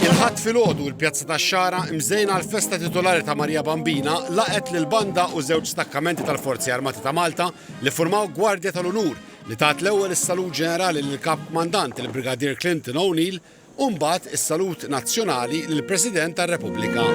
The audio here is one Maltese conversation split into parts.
Il-Ħadd filgħodu l-Pjazza tax-Xagħra mżejna għall-festa titolari ta' Marija Bambina laqgħet lil banda u żewġ stakkamenti tal-Forzi Armati ta' Malta li ffurmaw gwardja tal-unur li tat l-ewwel is-salut ġenerali lill-Kap Kmandant il-Brigadier Clinton O'Neill u mbagħad is-salut nazzjonali lill-President tar-Repubblika.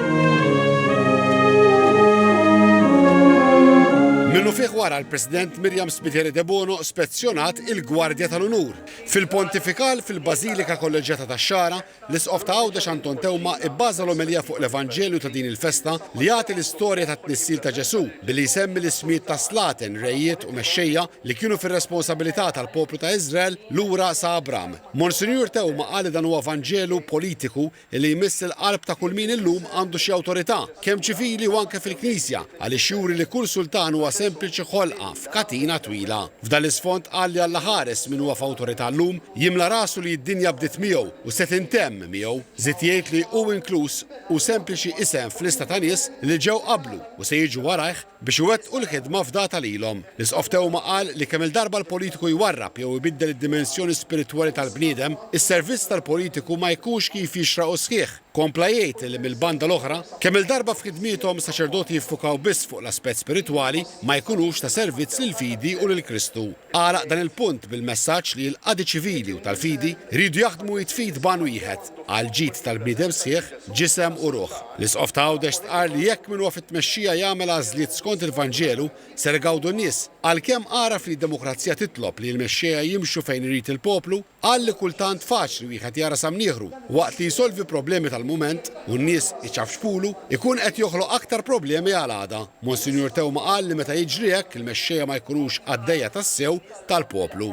Minnufih wara l-President Miriam Spiteri Debono spezzjonat il-Gwardja tal-Unur. Fil-Pontifikal fil-Bażilika Kolleġġjata tax-Xagħra, l-Isqof ta' Għawdex Anton Teuma bbaża l-omelija fuq l-Evanġelju ta' din il-festa li jagħti l-istorja tat-tnissil ta' Ġesù billi jsemmi l-ismijiet ta' slaten, rejiet u mexxejja li kienu fir-responsabilità tal-poplu ta' Iżrael lura sa Abram. Monsinjur Theuma qal li dan huwa vanġelu politiku li jmiss il-qalb ta' kull min illum għandu xi awtorità, kemm ċivili u anke fil-Knisja, għaliex juri li kull sultan huwa sempliċi ħolqa f'katina twila. F'dan l-isfond qal li Alla ħares min huwa f'awtorità llum, jimla rasu li d-dinja bdiet miegħu u se tintemm miegħu. Żied jgħid li hu inkluż hu sempliċi isem f'lista ta' nies li ġew qablu u se jiġu warajh, biex iwettqu l-ħidma fdata lilhom. L-Isqof Theuma qal li kemm-il darba l-politiku jwarrab jew ibiddel id-dimensjoni spiritwali tal-bniedem, is-servizz tal-politiku ma jkunx kif jixraq u sħiħ. Kompla jgħid li mill-banda l-oħra, kemm-il darba f'ħidmiethom saċerdoti jiffukaw biss fuq l-aspett spiritwali ma jkunux ta' servizz lill-fidi u lil Kristu. Għalaq dan il-punt bil-messaġġ li l-qadi ċivili u tal-fidi jridu jaħdmu id f'id b'għan wieħed għall-ġid tal-bniedem sħiħ, ġisem u ruħ. L-Isqof ta' Għawdex stqarr li jekk min huwa fit-tmexxija jagħmel għażliet skont il-Vanġelu, ser igawdu n-nies, għalkemm għaraf li d-demokrazija titlob li l-mexxejja jimxu fejn irid il-poplu, Qal li kultant faċli wieħed jara sa mnieħru u waqt li jsolvi problemi tal-mument u n-nies iċafċfulu, ikun qed joħloq aktar problemi għal għada. Monsinjur Teuma qal li meta jiġri hekk il-mexxejja ma jkunux qaddejja tassew tal-poplu.